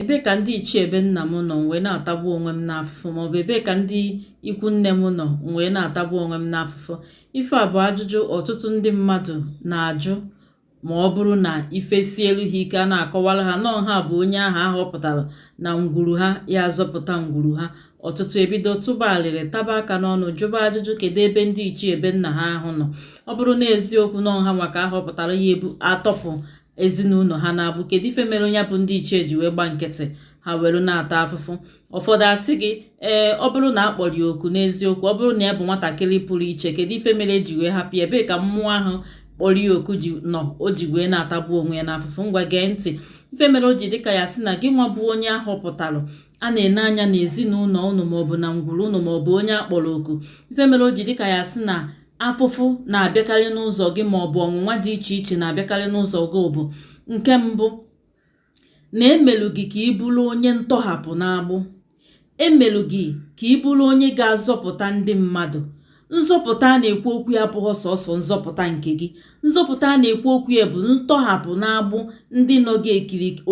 ebe ka ndị ichie ebe nna m nọ m wee na-atagbu onwe m n'afụfụ maọbụ ebe ka ndị ikwu nne m nọ m wee na-atagbu onwe m n'afụfụ ife a bụ ajụjụ ọtụtụ ndị mmadụ na-ajụ ma ọ bụrụ na ife sielu ha ike a na-akọwara ha na ọ ha bụ onye ahụ ahọpụtara na ngwuru ha ya azọpụta ngwuru ha ọtụtụ ebido tụba alịrị taba aka n'ọnụ jụba ajụjụ kedu ebe ndị ichie ebe nna ha ahụ nọ ọ bụrụ na eziokwu na ọ ha nwa ka ahọpụtara ya ebu atọpụ ezinụlọ ha n'agbụ kedu ife mere nya bụ ndị ichie ji wee gba nkịtị ha were na-ata afụfụ ụfọdụ asị gị ee ọ bụrụ na a kpọrọ ya oku n'eziokwu ọ bụrụ na ya bụ nwatakịrị pụrụ iche kedu ife mere eji wee hapụ ya ebee ka mmụọ ahụ kpọrọ ya oku nọ o ji wee na-atagbu onwe ya n'afụfụ ngwa gee ntị ife mere o ji dịka ya sị na gị nwa bụ onye ahọpụtara a na-ene anya n'ezinụlọ ụnụ maọbụ na ngwuru ụnụ maọbụ onye akpọrọ oku ife mere o ji dịka ya sị na afụfụ na-abịakarị n'ụzọ gị ma ọ bụ ọnwụnwa dị iche iche na-abịakarị n'ụzọ gị bụ nke mbụ na emelu gị ka ị bụrụ onye ntọhapụ n'agbụ emelu gị ka ị bụrụ onye ga-azọpụta ndị mmadụ nzọpụta a na-ekwu okwu ya abụghị sọsọ nzọpụta nke gị nzọpụta a na-ekwu okwu ya bụ ntọhapụ n'agbụ ndị nọ gị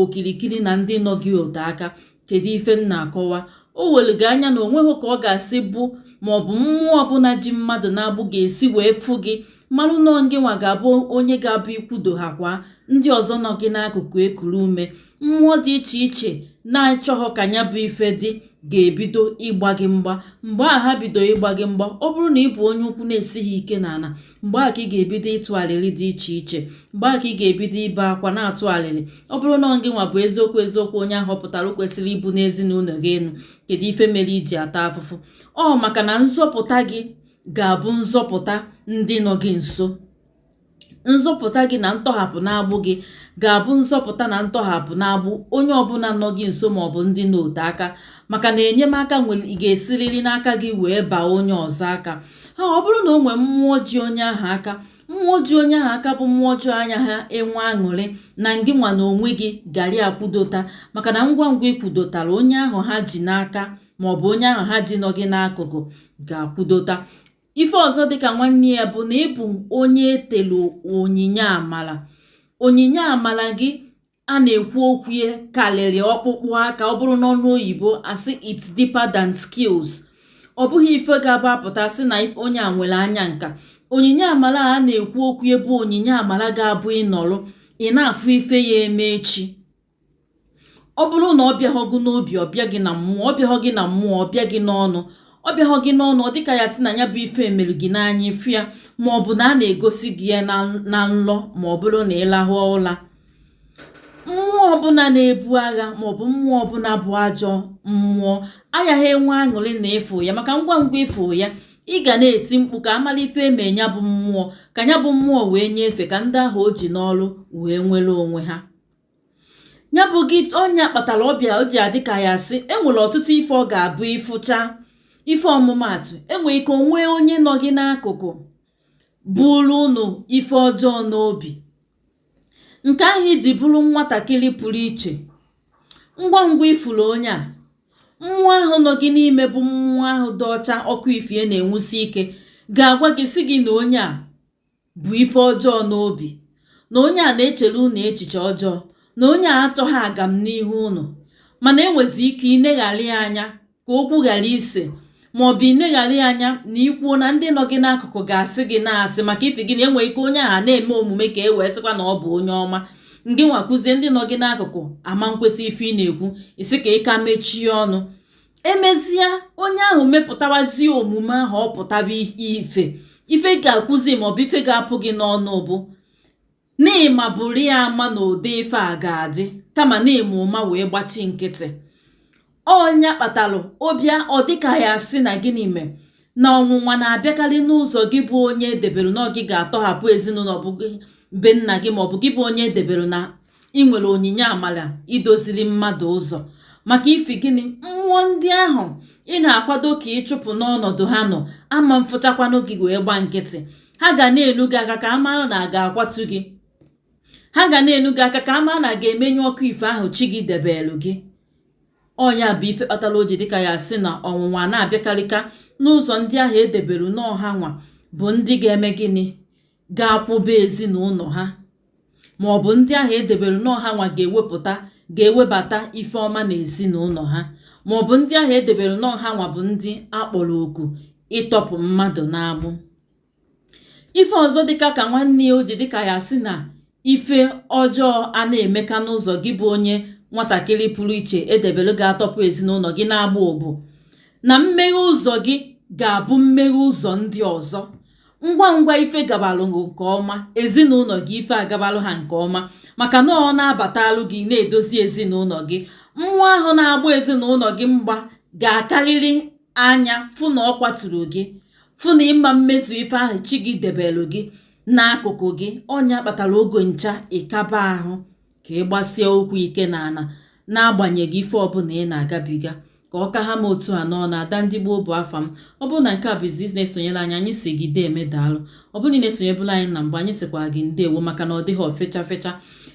okirikiri na ndị nọ gị ote aka kedu ife m na-akọwa o were gị anya na onweghị ka ọ ga-asị bụ ma ọ bụ mmụọ ọbụla ji mmadụ n'agbụ ga-esi wee fụ gị marụ na ọ gị nwa ga-abụ onye ga-abụ ikwudo ha kwa ndị ọzọ nọ gị n'akụkụ ekuru ume mmụọ dị iche iche na-achọghọ ka ya bụ ife dị ga-ebido ịgba gị mgba mgbe a ha bido ịgba gị mgba ọ bụrụ na ị bụ onye ụkwụ na-esighị ike n'ana mgbe a ka ị ga-ebido ịtụ alịlị dị iche iche mgbe a ka ị ga-ebido ibe akwa na-atụ alịlị ọ bụrụ na gị nwa bụ eziokwu eziokwu onye ahọpụtara kwesịrị ibuni ezinụlọ gị enu kedu ife mere iji ata afụfụ ọ maka na nzọpụta gị ga-abụ nzọpụta ndị nọ gị nso nzọpụta gị na ntọhapụ n'agbụ gị ga-abụ nzọpụta na ntọhapụ n'agbụ onye ọbụla nọ gị nso ma ọ bụ ndị nọ ote aka maka na enyemaka ga-esiriri n'aka gị wee baa onye ọzọ aka ha ọ bụrụ na o nwee mmụọ ji onye ahụ aka mmụọ ji onye ahụ aka bụ mmụọ ọjọọ anya ha enwe aṅụrị na ngị nwa na onwe gị gari akwudota maka na ngwa ngwa ikwudotara onye ahụ ha ji n'aka ma ọ bụ onye ahụ ha ji nọ gị n'akụkụ ga-akwudota ife ọzọ dịka nwanne ya bụ na ịbụ onye etelu onyinye amala onyinye amala gị a na-ekwu okwu ya karịrị ọkpụkpụ aka ọ bụrụ n'ọnụ oyibo asị it's deeper than skills ọ bụghị ife ga-abụ apụta sị na onye a nwere anya nka onyinye amara a na-ekwu okwu ya bụ onyinye amara ga-abụ ịnọrụ ị na-afụ ife ya eme echi ọ bụrụ na ọ bịaghọ gị n'obi ọ bịa gị na mmụọ ọ bịaghọ gị na mmụọ ọ bịa gị n'ọnụ ọ bịaghọ gị n'ọnụ ọ dịka ya sị na ya bụ ife emere gị n'anya ị fụ ya ma ọ bụ na a na-egosi gị ya na nlọ ma ọ bụrụ na ị laha ụla mmụọ ọbụla na-ebu agha maọbụ mmụọ ọbụla bụ ajọ mmụọ agaghị enwe aṅụrị na ịfụ ya maka ngwa ngwa ịfụ ya ị ga na-eti mkpu ka amala ife eme ya bụ mmụọ ka ya bụ mmụọ wee nyefee ka ndị ahụ o ji n'oru wee nwere onwe ha ya bụ gift ọ nya kpatara ọ bịa o ji adị ka ya sị enwere ọtụtụ ife ọ ga-abụ ịfụcha ife ọmụmatụ enwe ike o nwee onye nọ gị n'akụkụ buru unu ife ọjọọ n'obi nke ahụ i ji bụrụ nwatakịrị pụrụ iche ngwa ngwa ị fụrụ onye a mmụọ ahụ nọ gị n'ime bụ mmụọ ahụ dị ọcha ọkụ ife na-enwusi ike ga-agwa gị sị gị na onye a bu ife ọjọọ n'obi na onye a na-echere unu echiche ọjọọ na onye a achọghị agam n'ihu unu mana enwezi ike ineghara ya anya ka okwu ghara ise ma ọ bụ ineghara ya anya na i kwuo na ndị nọ gị n'akụkụ ga-asị gị na asị maka ifi gị na enwe ike onye ahụ na-eme omume ka e wee sịkwa na ọ bụ onye ọma ngị nwa kwuzie ndị nọ gị n'akụkụ ama nkweta ife ị na-ekwu ị sị ka ị ka mechie ọnụ emezie onye ahụ mepụtawazie omume ahụ ọ pụtaba ife ife ị ga-ekwuzi maọbụ ife ga-apụ gị n'ọnụ bụ N'ị maburu ya ama na ụdị ife a ga-adị kama n'ị ma ụma wee gbachi nkịtị. Ọ nya kpatalụ ọ bịa ọ dịka ya sị na gịnị me na ọnwụnwa na-abịakarị n'ụzọ gị bụ onye edebere na ọ gị ga-atọhapụ ezinụlọ bụ be nna gị ma ọ bụ gị bụ onye edebere na ị nwere onyinye amara idoziri mmadụ ụzọ maka ifi gịnị mmụọ ndị ahụ ị na-akwado ka ịchụpụ n'ọnọdụ ha nọ ama mfụchakwanụ gị wee gba nkịtị ha ga na-elu gị aka ka a mara na a ga-akwatu gị ha ga na-elu gị aka ka a mara na a ga-emenyụ ọkụ ife ahụ chi gị debelu gị ọ nya bụ ife kpatara o ji dịka ya sị na ọnwụnwa na-abịakarịka n'ụzọ ndị ahụ edebere n'ọ ha nwa bụ ndị ga-eme gịnị ga-akwụba ezinụlọ ha ma ọ bụ ndị ahụ edebere n'ọ ha nwa ga-ewepụta ga-ewebata ife ọma na ezinụlọ ha ma ọ bụ ndị ahụ edebere n'ọ ha nwa bụ ndị akpọrọ oku ịtọpụ mmadụ n'agbụ ife ọzọ dịka ka nwanne ya o ji dịka ya sị na ife ọjọọ a na-emeka n'ụzọ gị bụ onye nwatakịrị pụrụ iche edebere ga-atọpụ ezinụlọ gị n'agbụ bụ na mmeghe ụzọ gị ga-abụ mmeghe ụzọ ndị ọzọ ngwa ngwa ife gabalụ nke ọma ezinụlọ gị ife agabalụ ha nke ọma maka na ọ na-abatalụ gị na-edozi ezinụlọ gị mmụọ ahụ na-agba ezinụlọ gị mgba ga-akarịrị anya fụ na ọ kwaturu gị fụ na ị ma mmezu ife ahụ chi gị debelụ gị n'akụkụ gị ọ nya kpatara oge ncha ịkaba ahụ ka ị gbasie ụkwụ ike n'ala n'agbanyeghị ife ọbụla ị na-agabiga ka ọ ka ha ma otu a nọ na ada ndị gboo bụ afa m ọ bụrụ na nke a bụ izizi ị na-esonyere anyị anyị si gị deeme daalụ ọ bụrụ na ị na-esonyebulu anyị na mgbe anyị sikwa gị ndewo maka na ọ dịghị ofecha fecha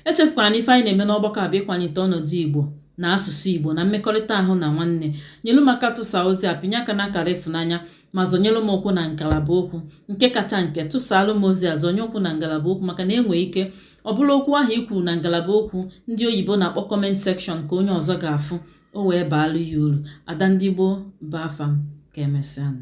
echefukwala na ife anyị na-eme n'ọgbakọ a bụ ịkwalite ọnọdụ igbo na asụsụ igbo na mmekọrịta ahụ na nwanne nyelu m aka tụsa ozi a pinye aka n'akara ịfụnanya ma zọnyelụ m ụkwụ na ngalaba okwu nke kacha nke tụsaalụ m ozi a zọnye ụkwụ na ngalaba okwu maka na e nwee ike ọ bụrụ okwu ahụ i kwuru na ngalaba okwu ndị oyibo na-akpọ comment section ka onye ọzọ ga-afụ o wee baalụ ya uru ada ndị gboo bụ afa m ka emesịanụ